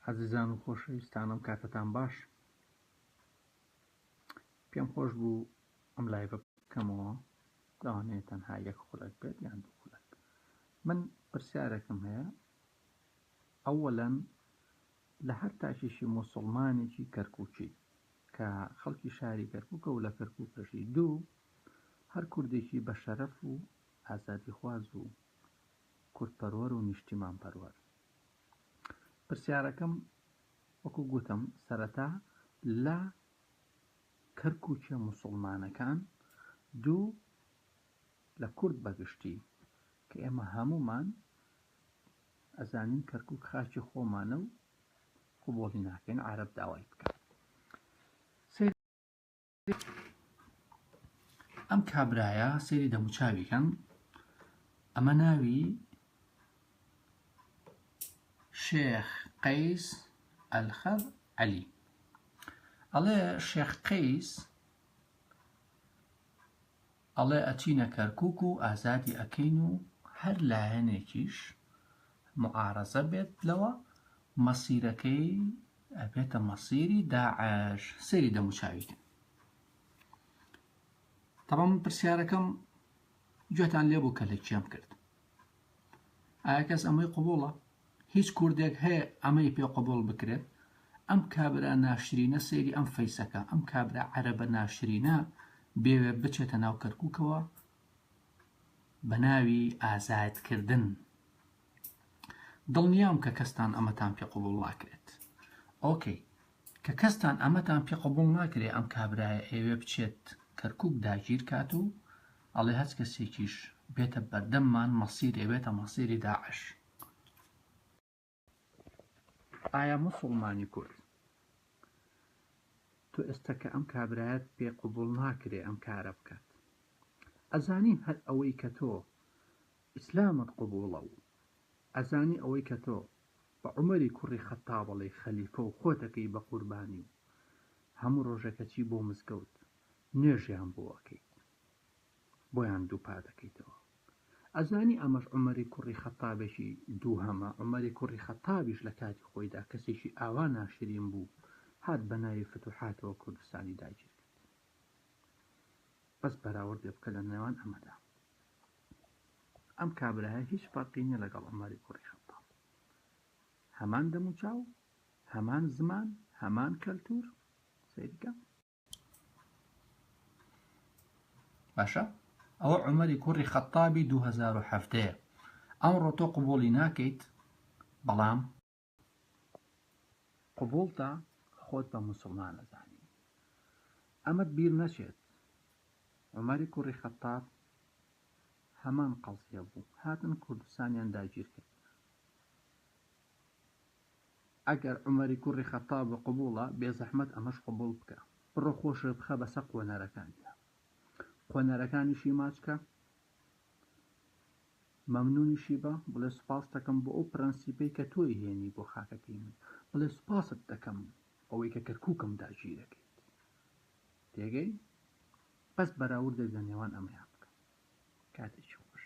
ئازیزان و خۆشەویستانم کاتتان باش پێم خۆش بوو ئەم لای بکەمەوە داوانێ تەنها یەک خولەک بێت یان دوو خولەک من پرسیارێکم هەیە ئەوەلەن لە هەر تاکیشی مسلمانێکی کەرکوچی کە خەڵکی شاری کەرکوکە و لە کەرکوکەژی دوو هەر کوردێکی بە شەرەف و ئازادیخواز و کوردپەروەر و نیشتیمانپەروەر. پرسیارەکەم وەکو گوتم سەرەتا لە کەرکوکیە موسوڵمانەکان دوو لە کورد بەگشتی کە ئێمە هەموومان ئەزانین کەرکک خاکی خۆمانە و قوبۆڵی ناکەین عرب داوای بکە ئەم کابرایە سێری دەموچاویکەم ئەمە ناوی شێخ قەیس ئەلخەر عەلی ئەڵێ شێخ قەیس ئەڵێ ئەچینە کەرکوک و ئازادی ئەکەین و هەر لایەنێکیش معارەزە بێت لەوە مەسیرەکەی ئەبێتە مەسیری داعش سەیری دەموچاوی کەن تەڕەم پرسیارەکەم گوێتان لێبوو کە لە کێم کرد ئایا کەس ئەمەی قوبوڵە هیچ کوردێک هەیە ئەمەی پێ قبوڵ بکرێت؟ ئەم کابرا ناشرینە سەیری ئەم فەیسەکە ئەم کابرا عەرەبە ناشرینە بێوێ بچێتە ناو کەرکوکەوە بەناوی ئازاد کردن دڵنیام کە کەستان ئەمەتان پێ قبوڵ ناکرێت ئۆکەی کە کەستان ئەمەتان پێ قبول ناکرێ ئەم کابرایە ئێوێ بچێت کەرکک داگیر کات و ئەڵێ هەچ کەسێکیش بێتە بەردەممان مەسیرێ بێتە مەسیری داعش ئایا موسوڵمانی کورد تۆ ئێستا کە ئەم کابرایەت پێ قوبوڵ ناکرێ ئەم کارە بکات ئەزانین هەر ئەوەی کە تۆ ئیسلامت قوبوڵە و ئەزانی ئەوەی کە تۆ بە عمەری کوڕی خەتابڵێ خەلیفە و خۆتەکەی بە قوربانی و هەموو ڕۆژەکەچی بۆ مزگەوت نوێژیان بۆ ئەەکەیت بۆیان دووپا دەکەیتەوە ئەزانی ئەمەش عومەری کوڕی خەتابێکی دووهەمە عومەری کوڕی خەتابیش لە کاتی خۆیدا کەسێکی ئاوا ناشرین بوو هات بە ناوی فتوحاتەوە کوردستانی داگیر کرد بەس بەراوردێ بکە لە نێوان ئەمەدا ئەم کابراهە هیچ فەرقی نیە لەگەڵ عومەری کوڕی خەتاب هەمان دەموچاو هەمان زمان هەمان کەلتور سەیرکە باشە ئەوە عمەری کوڕی خەتابی 2017 ئەمڕۆ تۆ قوبولی ناکەیت بەڵام قوبولتە خۆت بە مسلمان ئەزانی ئەمەت بیر نەچێت عمەری کوڕی خەتاب هەمان قەزیە بوو هاتن کوردستانیان داگیر کرد ئەگەر عومەری کوڕی خەتتاب قبوڵە بێزەحمەت ئەمەش قبوڵ بکە بڕۆ خۆشت بخە بەسەر قۆنەرەکانتا قۆنەرەکانیشی ماچ کە مەمنونیشی بە بڵێ سوپاست دەکەم بۆ ئەو پرەنسیپەی کە تۆی هێنی بۆ خاکەکەی من بڵێ سوپاست دەکەم ئەوەی کە کەرکووکم داگیرەکەیت تێگەی بەس بەراوردێک لە نێوان ئەمەیان بکە کاتێکی خۆش